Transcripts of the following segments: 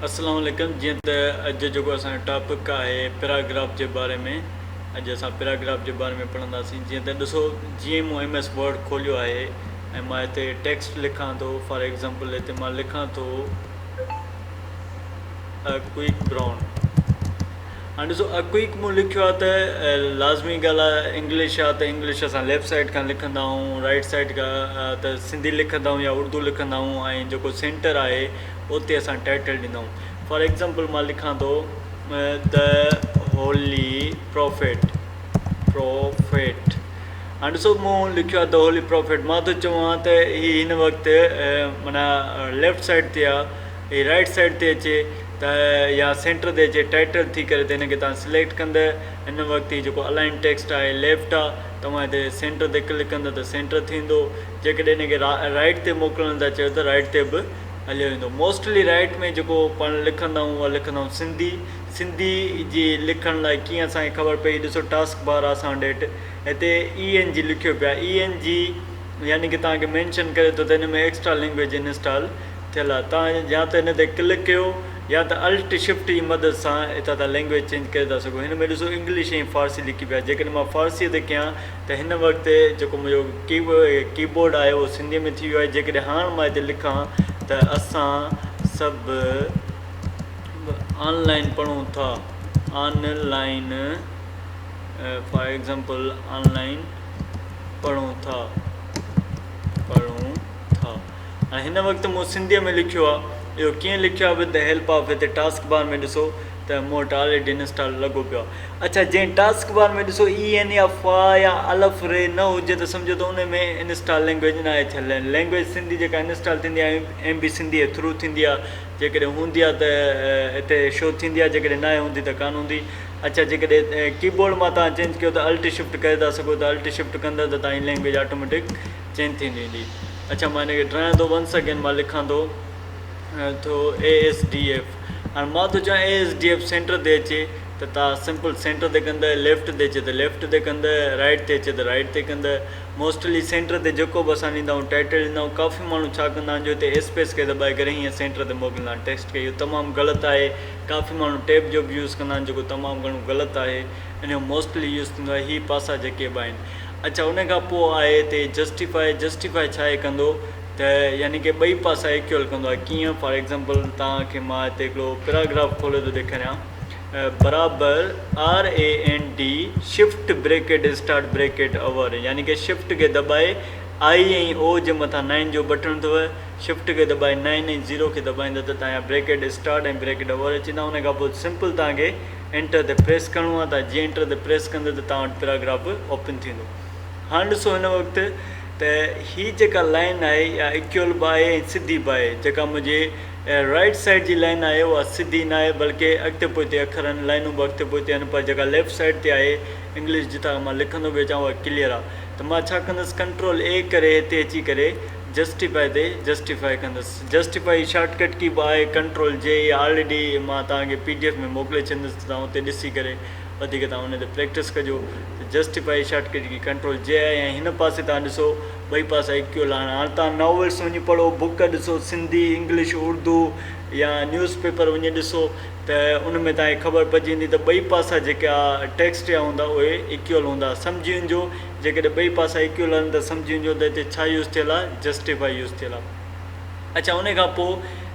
السلام عليڪم جيئن ته اڄ جيڪو اسان جو ٽاپڪ آهي پيراگراف جي باري ۾ اڄ اسان پيراگراف جي باري ۾ پڙهنداسين جيئن ته ڏسو جيئن مون ايم ايس ورڊ کوليو آهي ۽ مان هتي ٽيڪسٽ لکان ٿو فار ايگزامپل هتي مان لکان ٿو a quick brown هاڻي ڏسو اڪوئڪ مون لکيو آهي ته لازمي ڳالهه آهي انگلش آهي ته انگلش اسان ليفٽ سائيڊ کان لکندا آهون رائيٽ سائيڊ کان ته سنڌي لکندا آهون يا اردو لکندا آهون ۽ جيڪو سينٽر آهي اتي اسان ٽائيٽل ڏيندا آهون فار ايگزامپل مان لکان ٿو دا هولي پروفيٽ پروفيٽ هاڻي ڏسو مون لکيو آهي دا هولي پروفيٽ مان ٿو چوان ته هي هن وقت منا ليفٽ سائيڊ تي آهي هي رائيٽ سائيڊ تي اچي ته يا سينٽر تي اچي ٽائيٽل ٿي ڪري ته هن کي توهان سليڪٽ ڪنده ان وقت هي جيڪو الائن ٽيڪسٽ آهي ليفٽ آ توهان هتي سينٽر تي ڪلڪ ڪنده ته سينٽر ٿيندو جيڪڏهن هن کي رائيٽ تي موڪلڻ ٿا چاهيو ته رائيٽ تي به هليو ويندو موسٽلي رائيٽ ۾ جيڪو پاڻ لکندا آهيون اها لکندا آهيون سنڌي سنڌي جي لکڻ لاء ڪيئن اسان کي خبر پئي ڏسو ٽاسڪ بار آ اسان ڏيٺ هتي اي اين جي لکيو پيو آهي اي اين جي يعني ڪي توهان کي مينشن ڪري ٿو ته هن ۾ ايڪسٽرا لينگويج انسٽال ٿيل آهي توهان يا ته هن تي ڪلڪ ڪيو يا ته الٽ شفٽ جي مدد سان هتان تان لينگويج چينج ڪري ٿا سگهو هن ۾ ڏسو انگلش ۽ فارسي لڪي پئي آهي جيڪڏهن مان فارسي تي ڪيان ته هن وقت جيڪو منهنجو ڪي ڪي بورڊ آهي اهو سنڌي ۾ ٿي ويو آهي جيڪڏهن هاڻ مان هتي لکان ته اسان سڀ آن لائين پڙهون ٿا online for example online پڙهون ٿا پڙهون ٿا ۽ هن وقت مون سنڌيء ۾ لکيو آ، اهو ڪيئن لکيو آ وٿ دي هيلپ آف هتي ٽاسڪ بار ۾ ڏسو ته مون وٽ آلريڊي انسٽال لڳو پيو آ. اڇا جنهن ٽاسڪ بار ۾ ڏسو اي اين يا فا يا الف ري نه هجي ته سمجهو ته انهي ۾ انسٽال لينگويج ناهي ٿيل ۽ لينگويج سنڌي جيڪا انسٽال ٿيندي آ ايم بي سنڌي جي ٿرو ٿيندي آ جيڪڏهن هوندي آ ته هتي شو ٿيندي آ جيڪڏهن ناهي هوندي ته ڪانه هوندي اڇا جيڪڏهن ڪي بورڊ مان توهان چينج ڪيو ته الٽ شفٽ ڪري ٿا سگهو ته الٽ شفٽ ڪندو ته توهان جي لينگويج آٽوميٽڪ چين ٿي ڏيندي اڇا مان هن کي ڊرايان ٿو ونس اگين مان لکان ٿو ٿو اي ايس ڊي ايف هاڻي مان ٿو چوان A S D F centre تي اچي ته تان سمپل سينٽر تي ڪندء ليفٽ تي اچي ته ليفٽ تي ڪندء رائيٽ تي اچي ته رائيٽ تي ڪندء موسٽلي سينٽر تي جيڪو به اسان ڏيندا آهيون ٽائيٽل ڏيندا آهيون ڪافي ماڻهو ڇا ڪندا آهن جو هتي اسپيس کي دٻائي ڪري هيئن سينٽر تي موڪليندا آهن ٽيڪسٽ کي اهو تمام غلط آهي ڪافي ماڻهو ٽيب جو به يوز ڪندا آهن جيڪو تمام گهڻو غلط آهي ان جو موسٽلي يوز ٿيندو آهي هي پاسا جيڪي به آهن اڇا ان کان پوء آء تي جسٽيفاء جسٽيفاء ڇا اي ڪندو ته يعني ڪي ٻئي پاسا ايڪيول ڪندو آهي ڪيئن فار ايگزامپل توهان کي مان هتي هڪڙو پيراگراف کولي ٿو ڏيکاريان برابر R A N D shift bracket start bracket over يعني ڪي شفٽ کي دٻائي آء ۽ او جي مٿان نائن جو بٽڻ اٿو شفٽ کي دٻائي نائن ۽ زيرو کي دٻائيندا ته تهان جا بريڪيٽ اسٽارٽ ۽ بريڪيٽ اوور اچي ويندا ان کان پوء سمپل توهان کي انٽر تي پريس ڪرڻو آهي تان جيئن انٽر تي پريس ڪندو ته توهان وٽ پيراگراف به اوپن ٿيندو هاڻ ڏسو هن وقت ته هي جيڪا لائن آهي اها اڪيول به آهي ۽ سڌي به آهي جيڪا منهنجي رائٽ سائيڊ جي لائن آهي اها سڌي نه آهي بلڪه اڳتي پوئتي اکر آهن لائنون به اڳتي پوئتي آهن پر جيڪا ليفٽ سائيڊ تي آهي انگلش جتان مان لکندو به اچان اها ڪليئر آهي ته مان ڇا ڪندس ڪنٽرول اي ڪري هتي اچي ڪري جسٽيفائي تي جسٽيفائي ڪندس جسٽيفائي شارٽ ڪٽ ڪي به آهي ڪنٽرول جي اي آل ڊي مان توهان کي پي ڊي ايف ۾ موڪلي ڇڏيندس ته توهان اتي ڏسي ڪري وڌيڪ توهان ان تي پريڪٽس ڪجو ته justify shortcut key control جي آهي ۽ هن پاسي توهان ڏسو ٻئي پاسي ايڪ ڪيو لاهڻ هاڻ توهان ناولس وڃي پڙهو بوڪ ڏسو سنڌي انگلش اردو يا نيوز پيپر وڃي ڏسو ته ان ۾ توهان کي خبر پئجي ويندي ته ٻئي پاسا جيڪا ٽيڪسٽ جا هوندا اهي ايڪيول هوندا سمجهي وڃجو جيڪڏهن ٻئي پاسا ايڪيول آهن ته سمجهي وڃجو ته هتي ڇا يوز ٿيل آهي جسٽيفائي يوز ٿيل آهي. اڇا انهي کان پوء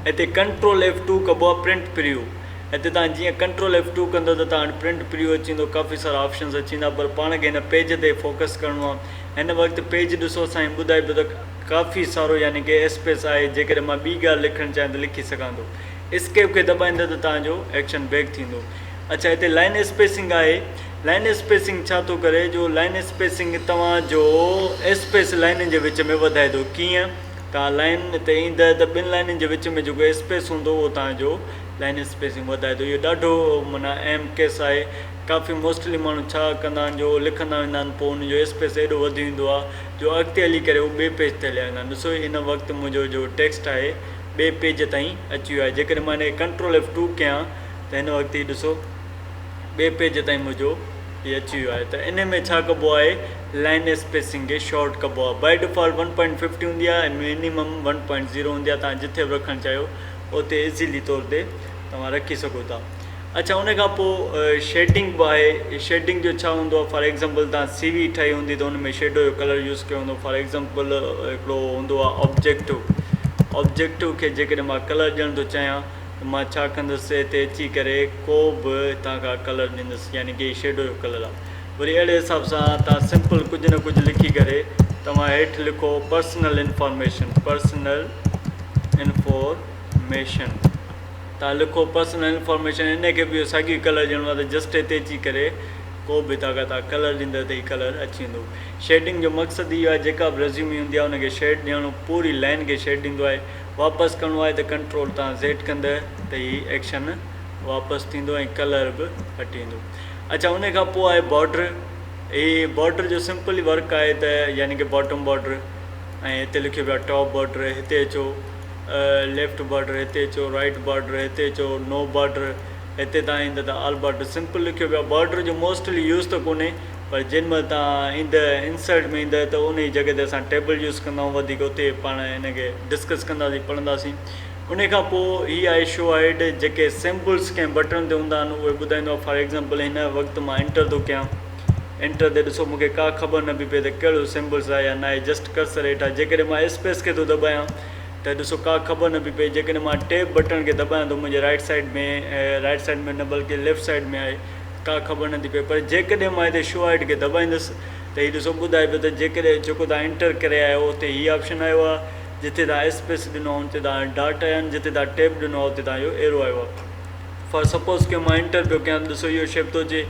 هتي ڪنٽرول ايف ٽو ڪبو آهي پرنٽ پريو هتي توهان جيئن ڪنٽرول ايف ٽو ڪندو ته توهان وٽ پرنٽ پريو اچي ويندو ڪافي سارا آپشنز اچي ويندا پر پاڻ کي هن پيج تي فوڪس ڪرڻو آهي هن وقت پيج ڏسو سائين ٻڌائي پيو ته ڪافي سارو يعني ڪي اسپيس آهي جيڪڏهن مان ٻي ڳالهه لکڻ چاهيان ته لکي سگهان ٿو اسڪيپ کي دٻائيندو ته توهان جو ايڪشن بيڪ ٿيندو اڇا هتي لائن اسپيسنگ آهي لائن اسپيسنگ ڇا ٿو ڪري جو لائن اسپيسنگ توهان جو اسپيس لائنن جي وچ ۾ وڌائي ٿو ڪيئن توهان لائن تي ايندء ته ٻن لائنن جي وچ ۾ جيڪو اسپيس هوندو اهو توهان جو لائن اسپيسنگ وڌائي ٿو اهو ڏاڍو معنيٰ اهم ڪيس آهي ڪافي موسٽلي ماڻهو ڇا ڪندا آهن جو لکندا ويندا آهن پوء ان جو اسپيس ايڏو وڌي ويندو آهي جو اڳتي هلي ڪري هو ٻئي پيج تي هليا ويندا آهن ڏسو هن وقت منهنجو جو ٽيڪسٽ آهي ٻئي پيج تائين اچي ويو آهي جيڪڏهن مان هن کي ڪنٽرول ايف ٽو ڪيان ته هن وقت هي ڏسو ٻئي پيج تائين منهنجو هي اچي ويو آهي ته انهي ۾ ڇا ڪبو آهي لائين اسپيسنگ کي شارٽ ڪبو آهي by default one point fifty هوندي آهي ۽ مينيمم ون پوائنٽ زيرو هوندي آهي توهان جٿي به رکڻ چاهيو اتي ايزيلي طور تي توهان رکي سگهو ٿا اڇا ان کان پوء شيڊنگ به آهي شيڊنگ جو ڇا هوندو آهي فار ايگزامپل توهان سي وي ٺاهي هوندي ته ان ۾ شيڊو جو ڪلر يوز ڪيو هوندو فار ايگزامپل هڪڙو هوندو آهي آبجيڪٽو آبجيڪٽو کي جيڪڏهن مان ڪلر ڏيڻ ٿو چاهيان ته مان ڇا ڪندس ته اتي اچي ڪري ڪو به هتان کان ڪلر ڏيندس يعني ڪي شيڊو جو ڪلر آ وري اهڙي حساب سان توهان سمپل ڪجهه نه ڪجهه لکي ڪري توهان هيٺ لکو پرسنل انفارميشن پرسنل انفارميشن توهان لکو پرسنل انفارميشن ان کي به اهو ساڳيو ئي ڪلر ڏيڻو آ ته جسٽ هتي اچي ڪري ڪو به هتان کان توهان ڪلر ڏيندو ته هي ڪلر اچي ويندو شيڊنگ جو مقصد اهو آ جيڪا به ريزيومي هوندي آ ان کي شيڊ ڏيڻو پوري لائن کي شيڊ ڏيندو آهي واپس ڪرڻو آهي ته ڪنٽرول تان زيڊ ڪندء ته هي ايڪشن واپس ٿيندو ۽ ڪلر به هٽي ويندو اڇا ان کان پوء آهي بارڊر هي بارڊر جو سمپل ورڪ آهي ته يعني ڪه باٽم بارڊر ۽ هتي لکيو پيو آهي ٽاپ بارڊر هتي اچو ليفٽ بارڊر هتي اچو رائٽ بارڊر هتي اچو نو بارڊر هتي تان ايندا ته آل بارڊر سمپل لکيو پيو آهي بارڊر جو موسٽلي يوز ته ڪونهي پر جنھن مھل تھان ايندء انسرٽ ۾ ايندء ته انھيء جڳھه تي اسان ٽيبل يوز ڪندائون وڌيڪ اتي پاڻ ان کي ڊسڪس ڪنداسين پڙھنداسين انھيء کان پوء ھي آھي شو ھيڊ جيڪي سمبلز ڪنھن بٽڻ تي ھوندا آھن اھي ٻڌائيندو آھي فار ايگزامپل ھن وقت مان انٽر ٿو ڪيان انٽر تي ڏسو مونکي ڪا خبر نه پئي پئي ته ڪھڙو سمبلز آھي يا ناھي جسٽ ڪرسر ھيٺان جيڪڏھن مان اسپيس کي ٿو دٻايان ته ڏسو ڪا خبر نه پئي پئي جيڪڏھن مان ٽيب بٽڻ کي دٻايان ٿو منھنجي رائٽ سائيڊ ۾ رائٽ سائيڊ ۾ نه بلڪه ليفٽ سائيڊ ۾ آھي ڪا خبر نه ٿي پئي پر جيڪڏهن مان هتي شو آئٽ کي دٻائيندس ته هي ڏسو ٻڌائي پيو ته جيڪڏهن جيڪو توهان انٽر ڪري آيا آهيو اتي هي آپشن آيو آهي جتي توهان اسپيس ڏنو آهي ان تي توهان ڊاٽ آيا آهن جتي توهان ٽيب ڏنو آهي اتي توهان جو ايرو آيو آهي فار سپوز ڪيو مان انٽر پيو ڪيان ته ڏسو اهو شيپ ٿو اچي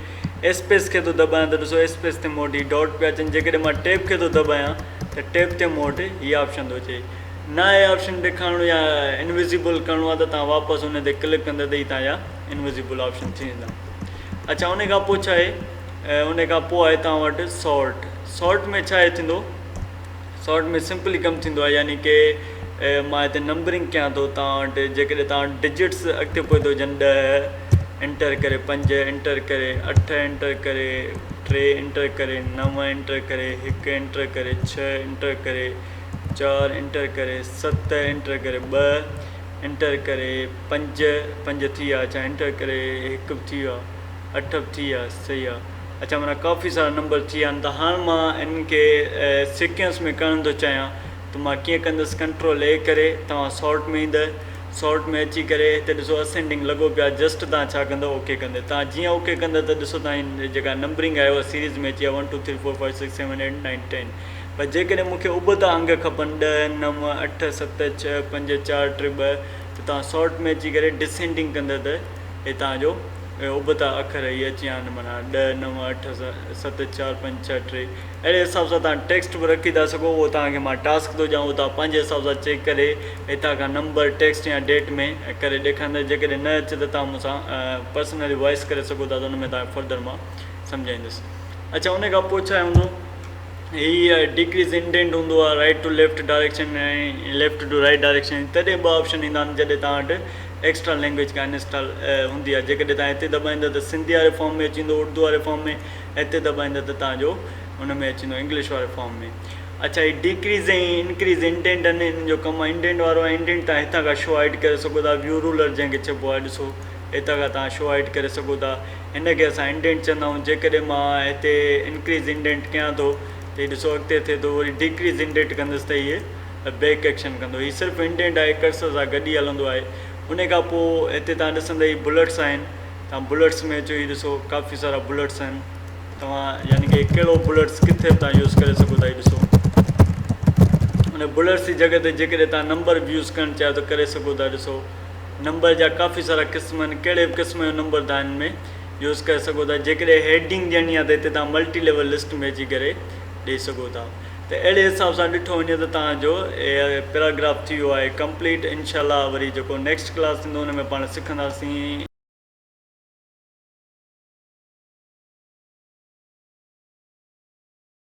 اسپيس کي ٿو دٻايان ته ڏسو اسپيس تي مون وٽ هي ڊاٽ پيا اچن جيڪڏهن مان ٽيب کي ٿو دٻايان ته ٽيب تي مون وٽ هي آپشن ٿو اچي نه هي آپشن ڏيکارڻو يا انويزيبل ڪرڻو آهي ته توهان واپس ان تي ڪلڪ ڪندا ته هي توهان جا انويزيبل آپشن ٿي ويندا اڇا ان کان پوء ڇا آهي ان کان پوء آهي توهان وٽ سارٽ سارٽ ۾ ڇا آهي ٿيندو سارٽ ۾ سمپلي ڪم ٿيندو آهي يعني ڪي مان هتي نمبرنگ ڪيان ٿو توهان وٽ جيڪڏهن توهان وٽ ڊجٽس اڳتي پوئتي هجن ڏهه انٽر ڪري پنج انٽر ڪري اٺ انٽر ڪري ٽي انٽر ڪري نو انٽر ڪري هڪ انٽر ڪري ڇهه انٽر ڪري چار انٽر ڪري ست انٽر ڪري ٻه انٽر ڪري پنج پنج ٿي ويا اچا انٽر ڪري هڪ به ٿي ويو آهي اٺ به ٿي ويا صحيح آهي اچا منا ڪافي سارا نمبر ٿي ويا آهن هاڻ مان انهن کي سيڪينس ۾ ڪرڻ ٿو چاهيان ته مان ڪيئن ڪندس ڪنٽرول اي ڪري توهان سارٽ ۾ ايندؤ سارٽ ۾ اچي ڪري هتي ڏسو اسينڊنگ لڳو پيو آهي جسٽ توهان ڇا ڪندؤ او ڪي ڪندو توهان جيئن او ڪي ڪندو ته ڏسو توهان جي جيڪا نمبرنگ آهي اها سيريز ۾ اچي ويا one two three four five six seven eight nine ten پر جيڪڏهن مون کي ابتا انگ کپن ڏهه، نو، اٺ، ست، ڇهه، پنج، چار، ٽي، ٻه ته توهان سارٽ ۾ اچي ڪري ڊسينڊنگ ڪندا ته هي توهان جو ابتا اکر هي اچي ويا آهن معنيٰ ڏهه، نو، اٺ، ست، چار، پنج، ڇهه، ٽي اهڙي حساب سان توهان ٽيڪسٽ به رکي ٿا سگهو اهو توهان کي مان ٽاسڪ ٿو ڏيان اهو توهان پنهنجي حساب سان چيڪ ڪري هتان کان نمبر ٽيڪسٽ يا ڊيٽ ۾ ڪري ڏيکاريندس جيڪڏهن نه اچي ته توهان مون سان پرسنلي وائس ڪري سگهو ٿا ته ان ۾ توهان کي فردر مان سمجهائيندس اڇا ان کان پوء ڇا هوندو هي ڊگريز انڊينٽ هوندو آهي right to left direction ۽ left to right direction تڏهن ٻه آپشن ايندا آهن جڏهن توهان وٽ ايڪسٽرا لينگويج ڪا انسٽال هوندي آهي جيڪڏهن توهان هتي دٻائيندا ته سنڌي واري فارم ۾ اچي ويندو اردو واري فارم ۾ هتي دٻائيندا ته توهان جو ان ۾ اچي ويندو انگلش واري فارم ۾ اڇا هي ڊيڪريز ۽ انڪريز انڊينٽ آهن انهن جو ڪم انڊينٽ وارو آهي انڊينٽ توهان هتان کان شو هائيڊ ڪري سگهو ٿا ويو رولر جنهن کي چئبو آهي ڏسو هتان کان توهان شو هائيڊ ڪري سگهو ٿا هن کي اسان انڊينٽ چوندا آهيون جيڪڏهن مان هتي انڪريز انڊينٽ ڪيان ٿو ته هي ڏسو اڳتي ٿئي ٿو وري ڊيڪريز انڊينٽ ڪندس ته هي بيڪ ايڪشن ڪندو هي صرف انڊينٽ آهي ڪرسر سان گڏ ئي هلندو آهي ان کان پوء هتي تان ڏسندا هي بلٽس آهن تان بلٽس ۾ اچو هي ڏسو ڪافي سارا بلٽس آهن توهان يعني ڪي ڪهڙو بلٽس ڪٿي به تان يوز ڪري سگهو ٿا هي ڏسو ان بلٽس جي جڳهه تي جيڪڏهن تان نمبر به يوز ڪرڻ چاهيو ته ڪري سگهو ٿا ڏسو نمبر جا ڪافي سارا قسم آهن ڪهڙي به قسم جو نمبر توهان هن ۾ يوز ڪري سگهو ٿا جيڪڏهن هيڊنگ ڏيڻي آهي ته هتي توهان ملٽي ليول لسٽ ۾ اچي ڪري ڏئي سگهو ٿا ته اهڙي حساب سان ڏٺو وڃي ته توهان جو پيراگراف ٿي ويو آهي ڪمپليٽ انشاء الله وري جيڪو نيڪسٽ ڪلاس ٿيندو ان ۾ پاڻ سکنداسين